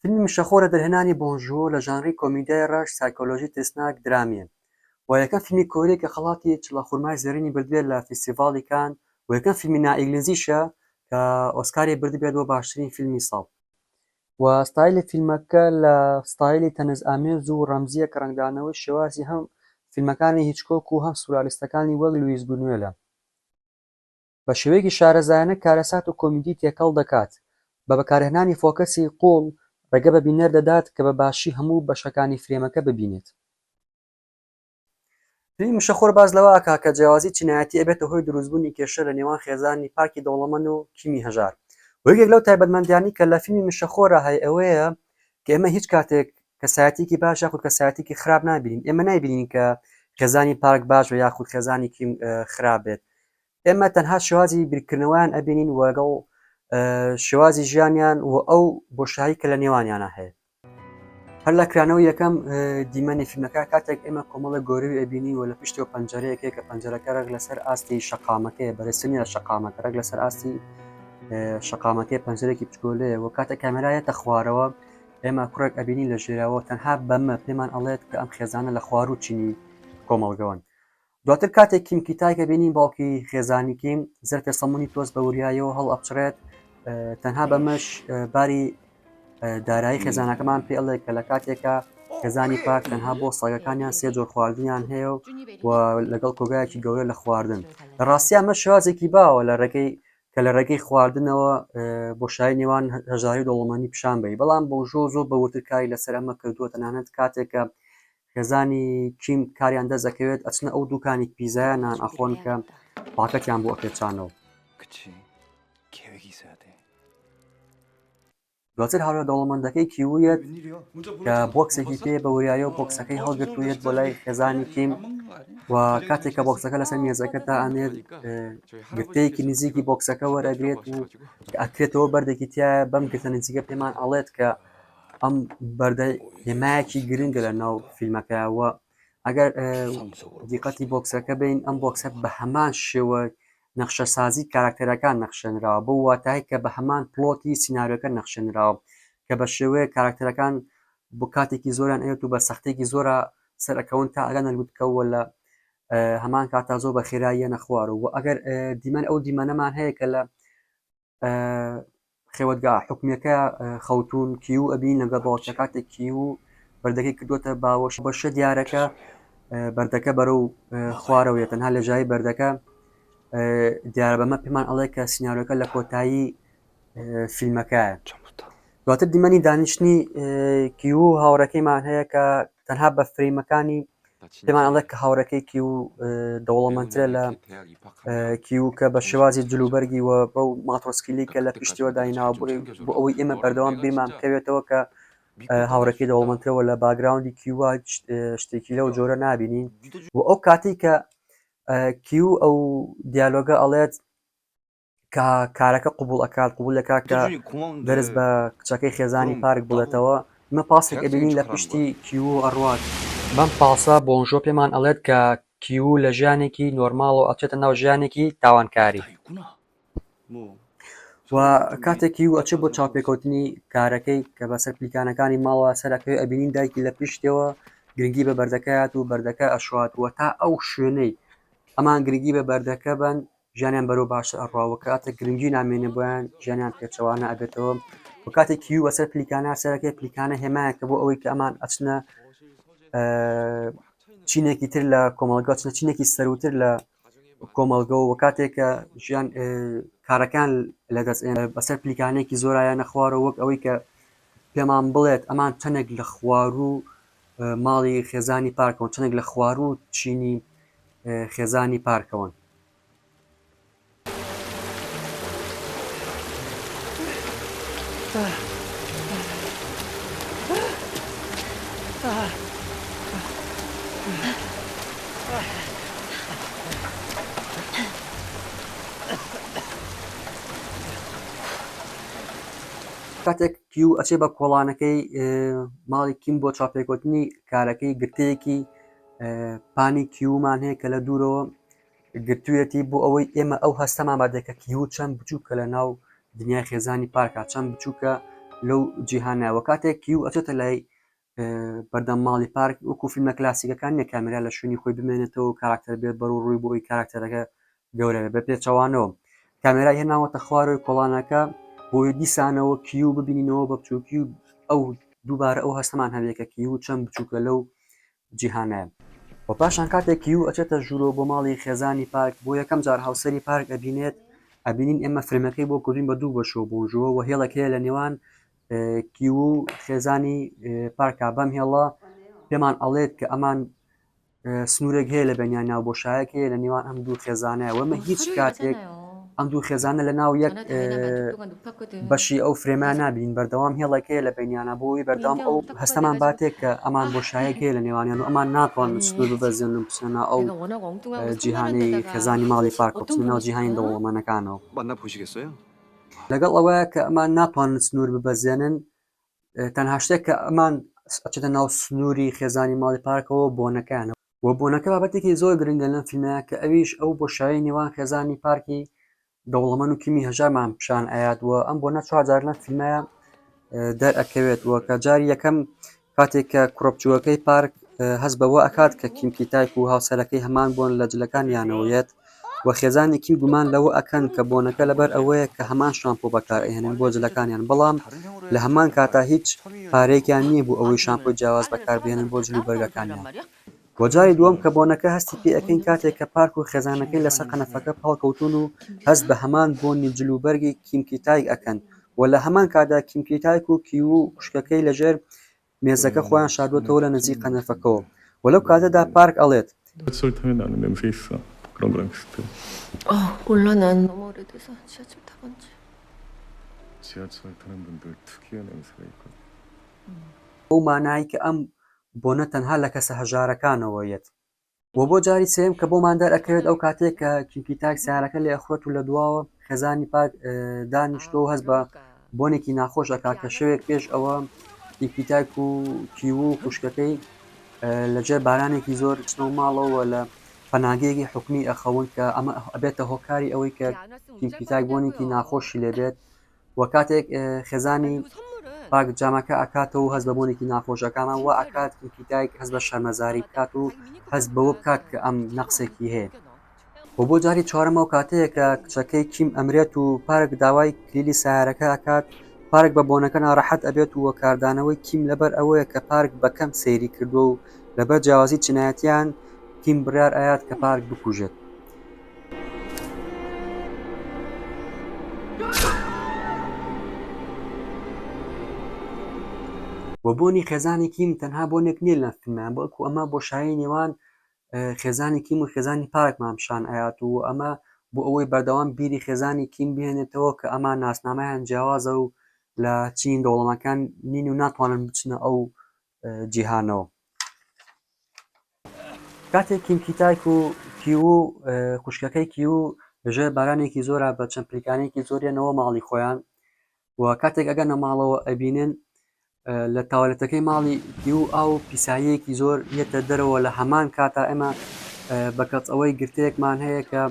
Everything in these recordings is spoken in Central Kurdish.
فیلمی مشەخۆر لە دەرهێنانی بۆنگ ژوو لە ژانری کۆمیدیای ڕەش، سایکۆلۆژی ترسناک، درامییە. وە یەکەم فیلمی کۆرییە کە خەڵاتی چڵە خورمای زێڕینی بردبێت لە فیستیڤاڵی کان و یەکەم فیلمی نا-ئیگلیزیشە کە ئۆسکاری بردبێت بۆ باشترین فیلمی ساڵ. وە ستایلی فیلمەکە لە ستایلی تەنز ئامێز و ڕەمزییە کە ڕەنگدانەوەی شێوازی هەم فیلمەکانی هیچکۆک و هەم سورالیستەکانی وەک لویس بونوێلە. بە شێوەیەکی شارەزایانە کارەسات و کۆمیدی تێکەڵ دەکات، بە بەکارهێنانی فۆکەسی قووڵ ڕێگە بە بینەر دەدات کە بە باشی هەموو بەشەکانی فرێمەکە ببینێت. فیلمی مشەخۆر باس لەوە ئەکات کە جیاوازی چینایەتی ئەبێتە هۆی دروستبوونی کێشە لە نێوان خێزانی پاکی دەوڵەمەند و کیمی هەژار و یەکێک لەو تایبەتمەندیانەی کە لە فیلمی مشەخۆرا هەیە ئەوەیە کە ئێمە هیچ کاتێک کەسایەتیکی باش یاخود کەسایەتیکی خراپ نابینین ئێمە نایبینین کە خێزانی پاک باش بە یاخود خێزانی کیم خراپ بێت ئێمە تەنها شێوازی بیرکردنەوەیان ئەبینین و لەگەڵ شێوازی ژیانیان و ئەو بۆشایی کە لە نێوانیانە هەیە هەر لە کرانەوە یەکەم دیمەنی فیلمەکە کاتێک ئێمە کۆمەڵە گۆروی ئەبینین و لە پشتەوە پەنجەرەیەکێ کە پەنجەرەکە ڕێک لەسەر ئاستی شقامەکەی بەرەسنی لە شقامەکە ڕێک لەسەر ئاستی شقامەکەی پەنجەرێکی بچگۆلەیە و کاتە کامێرایەتە خوارەوە ئێمە کوڕێک ئەبینین لە ژێراوە تەنها بەمە پێمان ئەڵێت کە ئەم خێزانە لە خوار و چینی کۆمەڵگەوەن دواتر کاتێک کیم کیتایک ئەبینین باوکی خێزانی کیم زەرفێ سەمونی تۆز بە وریایەوە هەڵ ئەپچڕێت تەنها بەمەش باری دارایی خێزانەکەمان پێ ئەڵێ کە لە کاتێکە خێزانی پاک تەنها بۆ ساگەکانیان سێ جۆر خواردنیان هەیە و لەگەڵ کۆگایەکی گەورە لە خواردن لە ڕاستیا مە شازێکی باوە لە ڕێگەی کە لە ڕێگەی خواردنەوە بۆشای نێوان هەژاری دەوڵمانی پیشان بی بەڵام بۆ ژۆ زۆر بەوتر کاری لەسەر ئەمە کردووە تەنانەت کاتێکە خێزانی کیم کاریان دەست ئەکەوێت ئەچنە ئەو دوکانی پیزایە نان ئەخۆن کە پاکەتیان بۆ ئەپێچانەوە دواتر هاورە دەوڵەمەندەکەی کیویەت کە بۆکسێکی پێ بە وریایە و بۆکسەکەی هەڵگرتوویەت بۆ لای خێزانی کیم و کاتێک کە بۆکسەکە لەسەر مێزەکە تا ئەنێت گرتەیەکی نزیکی بۆکسەکە وەرەگرێت و ئەکرێتەوە بەردێکی تایە بەم گرتە نزیکە پێمان ئەڵێت کە ئەم بەردە هێمایەکی گرنگە لە ناو فیلمەکەەوە ئەگەر دیقەتی بۆکسەکە بین ئەم بۆکسە بە هەمان شێوە نەخشە سازی کاراکتەرەکان نەخشێنراوە بۆ واتای کە بە هەمان پلۆتی سینناەکە نەخشێنراوە کە بە شێوەیە کاراکتەرەکان بۆ کاتێکی زۆران ئەوێت و بە سەختێکی زۆرە سەرەکەون تا ئەگەن نەلووتکەوە لە هەمان کاتا زۆر بە خێراییە نەخوارەوە ئەگەر دیمەن ئەو دیمەنەمان هەیە کە لە خێوەتگا حکومیەکە خەوتون کیو ئەبین لەگە باوچە کاتێک کیو بەردەکەی کردوتە باوەش بەشە دیارەکە بەردەکە بەرە و خوارەوە تەنها لە ژای بەردەکە دیارە بەمە پێمان ئەڵێ کە سناارەکە لە کۆتایی فیلمەکە دواتر دیمەنی دانیشتنی کیو هاوڕەکەیمان هەیە کە تەنها بە فریمەکانی پێمان ئەڵێ کە هاوڕەکەی کیو دەوڵەمەندترە لە کیو کە بە شێوازی جلوبەرگی و بەو ماتۆسکیلی کە لە پشتیوە دایناوە بۆ ئەوەی ئێمە بەردەوام بیرمان بکەوێتەوە کە هاوڕەکەی دەوڵەمەندترەوە لە باگراوندی کیوە شتێکی لەو جۆرە نابینین و ئەو کاتی کە کیو ئەو دیالۆگە ئەڵێت کە کارەکە قوبول ئەکات قوبول دەکات کە دەرس بە کچەکەی خێزانی پارک بڵێتەوە مە پاسێک ئەبینین لە پشتی کیو ئەڕوات بەم پاسە بۆنژۆ پێمان ئەڵێت کە کیو لە ژیانێکی نۆرماڵ و ئەچێتە ناو ژیانێکی تاوانکاری و کاتێک کیو ئەچێت بۆ چاپێکوتنی کارەکەی کە بەسەر پلیکانەکانی ماڵە سەرەکەی ئەبینین دایکی لە پشتەوە گرنگی بە بەردەکەات و بەردەکە ئەشوات و تا ئەو شوێنەی ئەمان گرنگی بە بەردەکە بن ژیانیان بەرەو باشتر ئەڕوا و کاتێک گرنگی نامێنێ بۆیان ژیانیان پێچەوانە ئەبێتەوە و کاتێک کیوی بەسەر پلیکانە سەرەکەی پلیکانە هێمایەکە بۆ ئەوەی کە ئەمان ئەچنە چینێکی تر لە کۆمەڵگا چنە چینێکی سەروتر لە کۆمەڵگە و کاتێکە ژیان کارەکان لە دەست بەسەر پلیکانێکی زۆرایە نەخوارەوە وەک ئەوەی کە پێمان بڵێت ئەمان چەندێک لە خوار و ماڵی خێزانی پارکەوە چەندێک لە خوار و چینی خێزانی پارکەوەن کاتێک کیو ئەچێ بە کۆڵانەکەی ماڵی کیم بۆ چاپێکوتنی کارەکەی گرتەیەکی پانی کیومان هەیە کە لە دوورەوە گرتوویەتی بۆ ئەوەی ئێمە ئەو هەستەمان بادێکە کیو چەند بچووکە لە ناو دنیای خێزانی پارکە چەند بچووکە لەو جیهانەوە کاتێک کیو ئەچێتە لای بەردەم ماڵی پارک وەکو فیلمە کلاسیکەکان نیە کامرا لە شوێنی خۆی بمێنێتەوە کاراکتەر بێت بەرو ڕووی بۆی کاراکتەرەکە گەورەبێ بە پێچەوانەوە کامێرای هێناوەتە خوارەوەی کۆڵانەکە بۆی دیسانەوە کیو ببینینەوە بە بچووکی و ئەو دووبارە ئەو هەستەمان هەبێ کە کیو چەند بچووکە لەو جیهانایە و پاشان کاتێک کیو ئەچێتە ژوورۆ بۆ ماڵی خێزانی پارک بۆ یەکەم جار هاوسەری پارک ئەبینێت ئەبینین ئێمە فرمەکەی بۆ کردین بە دوو بەشەوە بۆژەوە و هێڵەک هەیە لە نێوان کیو و خێزانی پارکا بەم هێڵە پێمان ئەڵێت کە ئەمان سنوورێک هەیە لە بەنیان ناو بۆشایەک هەیە لە نێوان ئەم دوو خێزانەیە وەمە هیچ کاتێک ئەم دوو خێزانە لە ناو یەک بەشی ئەو فرێمان نبین بەردەوام هێڵەکەی لە بینیانە بۆی بەردەوام ئەو هەستەمان باتێک کە ئەمان بۆ شایەکەی لە نێوانیان و ئەمان ناتوان سنوور ببەزێن و بچنە ئەو جیهانی خێزانی ماڵی پاکۆچنە ناو جیهانی دەوڵەمەنەکانەوە لەگەڵ ئەوەیە کە ئەمان ناتوان سنوور ببەزێنن تەنها شتێک کە ئەمان ئەچێتە ناو سنووری خێزانی ماڵی پارکەوە بۆنەکانە و بۆنەکە بابەتێکی زۆر گرنگە لەم فیلمەیە کە ئەویش ئەو بۆ شای نێوان خێزانی پارکی دەوڵەمەن و کیمی هەژارمان پیشان ئاات و ئەم بۆ نەچوارجار لەم فیلمەیە دەرئەکەوێت و کە جاری یەکەم کاتێک کە کوڕپچووەکەی پارک هەست بەوە ئەکات کە کیمکی تایپ و هاوسەرەکەی هەمان بوون لە جلەکانیانەوەیەت و خێزانێکی گومان لەوە ئەکەن کە بۆنەکە لەبەر ئەوەیە کە هەمان شامپۆ بەکار ئەهێنن بۆ جلەکانیان بەڵام لە هەمان کاتا هیچ پارەیەکیان نییە بۆ ئەوەی شامپۆی جیاواز بەکار بهێنن بۆ جل و بەرگەکانیان. و جاری دووەم کە بۆنەکە هەستی پێ ئەکەین کاتێک کە پارک و خێزانەکەی لەسەر قەنەفەکە پاڵکەوتوون و هەست بە هەمان بۆنی جل و بەرگی کیم کی تایگ ئەکەن و لە هەمان کاتدا کیم کی تایک و کیوو و خوشکەکەی لەژێر مێزەکە خۆیان شاردووەتەوە لە نزیک قەنەفەکەوە و لەو کاتەدا پارک ئەڵێت. بەو مانای کە ئەم بۆنە تەنها لە کەسە هەژارەکانەوە یەت. وە بۆ جاری سێیەم کە بۆمان دەرئەکەوێت ئەو کاتێک کە کیوکی تاک سیارەکە لێ ئەخورێت و لە دواوە خێزانی پاک دانیشتۆ و هەست بە بۆنێکی ناخۆش ئەکات کە شەوێک پێش ئەوە کیوکی تاک و کیو و خوشکەکەی لە ژێر بارانێکی زۆر ئەچنەوە ماڵەوە لە پەناگەیەکی حکومی ئەخەون کە ئەمە ئەبێتە هۆکاری ئەوەی کە کیوکی تاک بۆنێکی ناخۆشی لێبێت وە کاتێک خێزانی پاک جامەکە ئەکاتەوە و هەست بە بۆنێکی ناخۆش ئەکامە و ئاکات کیکی دایک هەز بە شەرمەزاری بکات و هەز بەوە بکات کە ئەم نەقسێکی هەیە و بۆ جاری چوارەمەوە کاتەیە کە کچەکەی کیم ئەمرێت و پارک داوای کلیلی سیارەکە ئەکات پارک بە بۆنەکە ناڕەحەت ئەبێت و کاردانەوەی کیم لەبەر ئەوەیە کە پارک بەکەم سەیری کردووە و لەبەر جیاوازی چینایەتیان کیم بڕار ئاات کە پارک بکوژێت وە بۆنی خێزانی کیم تەنها بۆنێک نیە لە فیلمەیان بەڵکو ئەمە بۆشایی نێوان خێزانی کیم و خێزانی پارکمان پیشان ئەیات و ئەمە بۆ ئەوەی بەردەوام بیری خێزانی کیم بهێنێتەوە کە ئەمان ناسنامەیان جیاوازە و لە چین دەوڵەمەکان نین و ناتوانن بچنە ئەو جیهانەوە. کاتێک کیم کیتایک و کیو و خوشکەکەی کیو ژێ بارانێکی زۆرە بە چەند پلیکانێکی زۆریانەوە ماڵی خۆیان و کاتێک ئەگەنە ماڵەوە ئەبینن لە تاوالەتەکەی ماڵی کیو ئاو پیساییەکی زۆر یەتە دەرەوە لە هەمان کاتا ئێمە بە کەچ ئەوەی گرتەیەکمان هەیە کە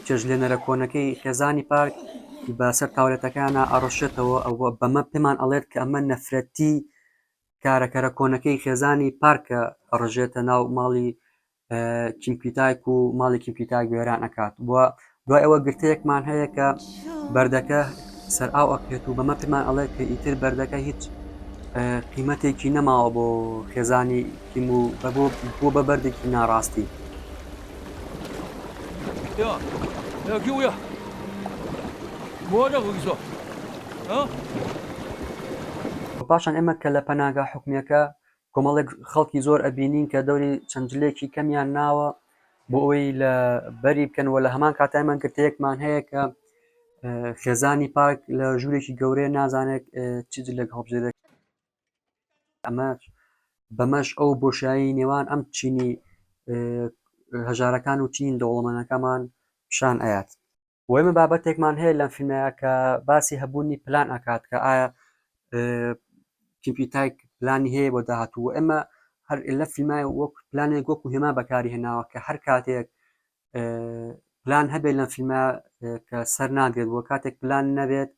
چێشتلێنەرە کۆنەکەی خێزانی پارک بە سەر تاولێتەکانە ئەڕشێتەوە ئەوە بەمە پێمان ئەڵێت کە ئەمە نەفرەتی کارەکەرە کۆنەکەی خێزانی پارکە ئەڕژێتە ناو ماڵی کیمپیتایک و ماڵی کیمپیتایک وێران ئەکات بووە دوای ئەوە گرتەیەکمان هەیە کە بەردەکە سەر ئاو ئەکرێت و بەمە پێمان ئەڵێت کە ئیتر بەردەکە هیچ قیمەتێکی نەماوە بۆ خێزانی کیم و بەبۆ بووە بە بەردێکی ناڕاستی. یا یا گیو یا بۆ نەبووی زۆر و پاشان ئێمە کە لە پەناگا حکومیەکە کۆمەڵێک خەڵکی زۆر ئەبینین کە دەوری چەند جلێکی کەمیان ناوە بۆ ئەوەی لە بەری بکەن و لە هەمان کاتایمان گرتەیەکمان هەیە کە خێزانی پاک لە ژوورێکی گەورەیە نازانێت چ جلێک هەڵبژێرێت ئەمەش بەمەش ئەو بۆشایی نێوان ئەم چینی هەژارەکان و چین دەوڵەمەنەکەمان پیشان ئەیات وەمە بابەتێکمان هەیە لەم فیلمەیە کە باسی هەبوونی پلان ئەکات کە ئایا کیپیتایک پلانی هەیە بۆ داهاتوو ئێمە هەر لە فیلمای وەک پلانێک وەکو هێما بەکاری هێناوە کە هەر کاتێک پلان هەبێت لەم فیلمە کە سەر ناگرێت بۆ کاتێک پلان نەبێت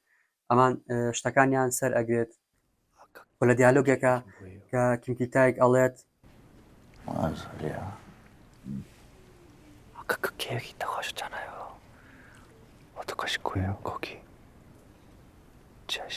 ئەمان شتەکانیان سەر ئەگرێت لە دیالۆگێکە کە کیمکی تایک ئەڵێت کێکی تەخۆش جانایەوە تەکەش کوێ کۆکی چش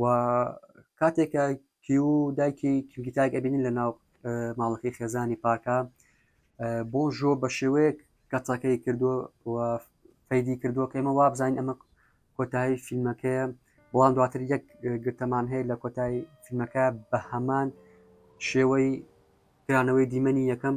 و کاتێک کە کیو دایکی کیلگیتاک ئەبینین لە ناو ماڵەکەی خێزانی پاکە بۆژۆ بە شێوەیەک کەتەکەی کردو و فەیدی کردووە کە ئمە وابزانین ئەمە کۆتایی فیلمەکەیە بەڵام دواتر یەک گرتەمان هەیە لە کۆتایی فیلمەکە بە هەمان شێوەی کرانەوەی دیمەنی یەکەم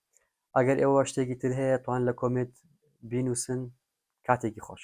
ئەگەر ئێوە شتێکی تر هەیە توان لە کۆمێت بینوسن کاتێکی خۆش.